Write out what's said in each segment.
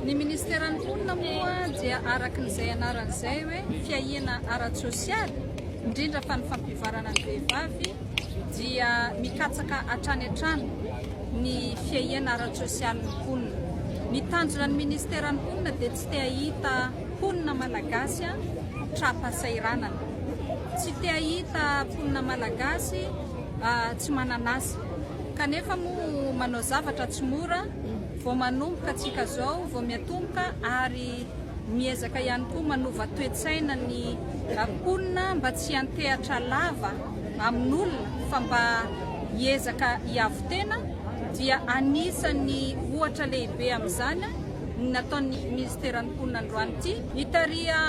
Ny ministeran'ny mponina moa dia araka izay anarany izay hoe fiahiana ara-tsosialy, indrindra fa ny fampivarana ny vehivavy dia mikatsaka hatrany hatrany ny fiahiana ara-tsosialin'ny mponina. Ny tanjona ny ministeran'ny mponina dia tsy te hahita mponina malagasy tra-pahasahiranana, tsy te hahita mponina malagasy ah, tsy manan'asa. kanefa moa manao zavatra tsy mora vao manomboka tsika zao vao miatomboka ary miezaka ihany koa manova toe-tsaina ny mponina mba tsy antehatra lava amin'olona fa mba hiezaka hiavo tena dia anisan'ny ohatra lehibe amin'izany ny nataon'ny minisiteran'ny mponina androany ity ny tariha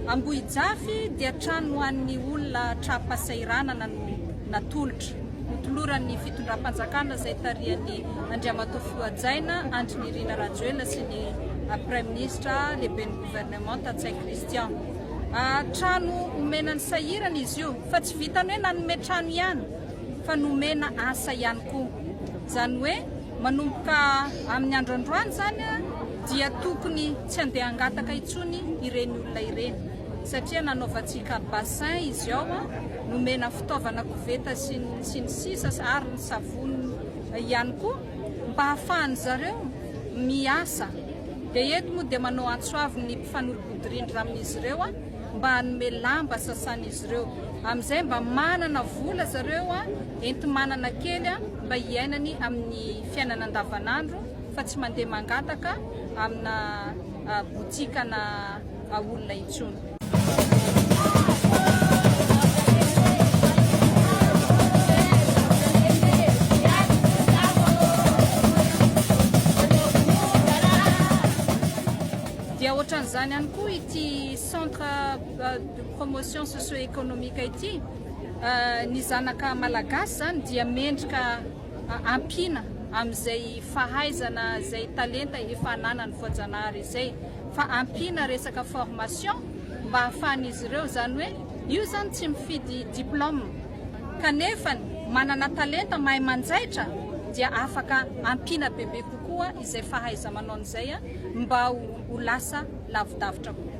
Ambohijafy dia trano ho an'ny olona tra-pasahiranana no natolotra Notoloran'ny fitondram-panjakana izay tarihan'i Andriamatoa Fihoajaina Andry Nirina Rajoelina sy ny Praiminisitra Lehiben'ny Governemanta Ntsay Christian. Trano omena ny sahirana izy io fa tsy vitan'ny hoe nanome trano ihany fa nomena asa ihany koa. Izany hoe manomboka amin'ny andro androany izany dia tokony tsy handeha hangataka intsony ireny olona ireny. satria nanaovantsika bassin izy ao, nomena fitaovana koveta sy ny sisa ary ny savony ihany koa mba hahafahan'ny zareo miasa dia eto moa dia manao antso avo ny mpifanolo-bodirindra amin'izy ireo mba hanome lamba sasan'izy ireo amin'izay mba manana vola zareo enti-manana kely mba hiainany amin'ny fiainana andavanandro fa tsy mandeha mangataka amina botikana olona intsony. Dia ohatran'izany ihany koa ity centre de promotion socio-économique ity, ny zanaka malagasy izany dia mendrika ampiana amin'izay fahaizana, izay talenta efa ananan'ny voajanahary izay. fa ampiana resaka formation mba hahafahan'izy ireo izany hoe io izany tsy mifidy diplôme kanefa manana talenta mahay manjaitra dia afaka ampiana bebe kokoa izay fahaiza-manaony izay mba ho lasa lavidavitra kokoa.